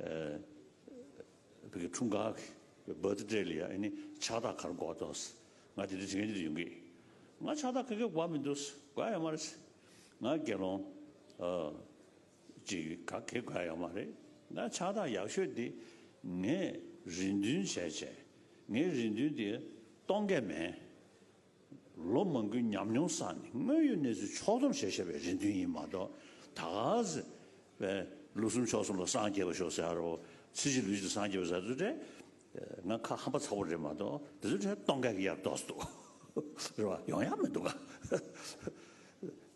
བོད་ཀྱི་འཁྲུངས་སྐར Birth Day ལ་ཡང་ནི་ཕྱག་རྟགས་གར་འགོག་འདུག། ང་དེ་འདྲའི་དྲི་ངན་ཅི་དགར་ཡོང་གི། ང་ཕྱག་རྟགས་ག་གེ་འགོག་མི་འདུག་དགོས་ཡ་མ་རེད། ང་དགེ་སློང་ཅིག་ག་གེ་དགོས་ཡ་མ་རེད། ང་ཕྱག་རྟགས་ཡག་ཤོས་དེ་ངས་རེ་འདུན་བྱས་བྱས། ངའི་རེ་འདུན་དེ་སྟོང་སྐད་མེད། ལོ་མང་གི་ཉམས་མྱོང་བསགས་ནས་དངོས་ཡོད་གནས་ཚུལ་ཕྱོགས་སྡོམ་བྱེད་ཤེས་པའི་རེ་འདུན་ཡིན་མ་གཏོགས་ད་ག་ཟེ་བས་ལོ་གསུམ་ཕྱོགས་གསུམ་ལ་སངས་རྒྱས་པ་ཤོག་ཟེར་ཨ་རོ་ཚེ་གཅིག་ལུས་གཅིག་སངས་རྒྱས་པ་ཟེར་ཚུལ་དེ་ང་ཁ་ཧམ་པ་ཚ་བོ་རེད་མ་གཏོགས་དེ་ཚོའི་གྲས་སྟོང་སྐད་ཀྱི་ཡར་ལྡོག་སྡོག་རེད་བ་ཡོང་ཡག་མི་འདུག་ག།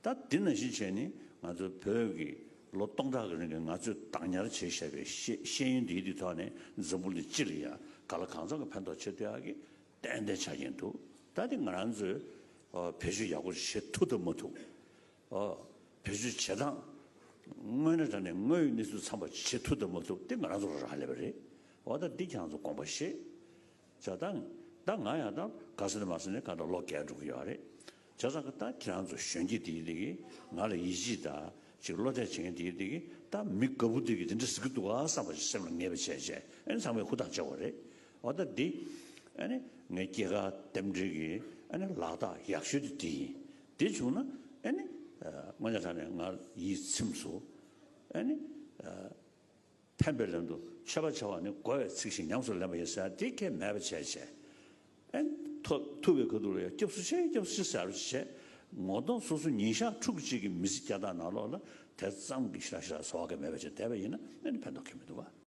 ད་འདི་ན་གཞི་བྱས་ནི་ང་ཚོའི་བོད་ཀྱི་ལོ་སྟོང་ཕྲག་གི་རིང་གི་ང་ཚོས་བདག་ཉར་བྱས་བཞག་པའི་ཤེས་ཡོན་འདིའི་དུས་ཐོག་ནས་འཛམ་བུ་ལི་སྤྱི་ལ་ཡང་ག་ལ་གང་འཚམ་གྱི་ཕན་ཐོག་ཆེ་བསྟོད་ཀྱི་ཏན་ཏན་ཆགས་ཀྱིན་འདུག་ད་དེ་ང་རང་ཚོས་བེད་སྤྱོད་ཡག་པོ་བྱེད་ཐུབ་ཐུབ་མ་ཐུབ། བེད་སྤྱོད་བྱེད་སྟངས་དངོས་གནས་དྲ་ནས་དངོས་ཡོད་གནས་ཚུལ་འཚམ་པ་བྱེད་ཐུབ་ཐུབ་མ་ཐུབ་དེ་ང་རང་ཚོ་ལ་རག་ལས་པ་རེད། འོ་ད་འདི་ཁྱང་ཚོ་དགོངས་པ་བཞེས། བྱ་ད་ང་ཡང་ད་ག་ས་ནས་མ་ས་ནས་ག་ད་ལོ་བརྒལ་འགྲོ་གི་ཡོད་རེད། བྱ་བཟང་གི་རྟགས་ཁྱེད་རང་ཚོ་གཞོན་སྐྱེས་འདིའི་སྟེང་གི་ང་ལ་ཡིད་ཆེས་དང་ཅིག་བློ་གཏད་བྱེད་མཁན་འདིའི་སྟེང་གི་ད་མི་དགའ་བོ་འདི་གིས་འདི་འདྲ་ཟེར་གི་འདུག་ག་བསམ་པ་ཞིག་སེམས་ལ་ངེས་པ་བྱས་བྱས་ཨ་ནི་ཚང་མས་ཧུར་ཐག་བྱས་བ་རེད། འོ་ད་འདི་ཨ་ནི་ངའི་སྐྱེས་སྐར་རྟེན་འབྲེལ་གྱི་ཨ་ནི་ལག་རྟགས་ཡག་ཤོས་དེ་འདི་ཡིན། འདི་བྱུང་ན་ཨ་ནི་སྔོན་ཆད་ལྷག་ནས་ང་ཡིད་ཚིམས་སོ། ཨ་ནི། ཕན་པའི་ལན་དུ་མཆོད་པ་བྱ་བ་ནི་བསྒོ་བའི་ཚིག་བཞིན་ཉམས་སུ་ལེན་པ་ཡིན་ཟེར་དེ་ཁྱད་མེད་པར་བྱས་བྱས། ཨན། ཐུབ་པའི་ག་དུག་ལ་ཡང་སྐྱབས་སུ་ཆེ་སྐྱབས་སུ་ཆེ་ཟེར་བར་བྱེད། ངོ་གདོང་སོ་སོ་ཉིན་ཞག་ཕྲུག་གཅིག་གི་མི་ཚེ་བརྒྱ་དང་ནང་ལོགས་ལ་དེ་ཙམ་གྱི་ཞིར་ཞིར་ཟོ་བ་ཁྱད་མེད་པར་བྱས་བསྡད་པ་ཡིན་ན་ཕན་ཐོགས་ཁྱད་མི་འདུག་ག།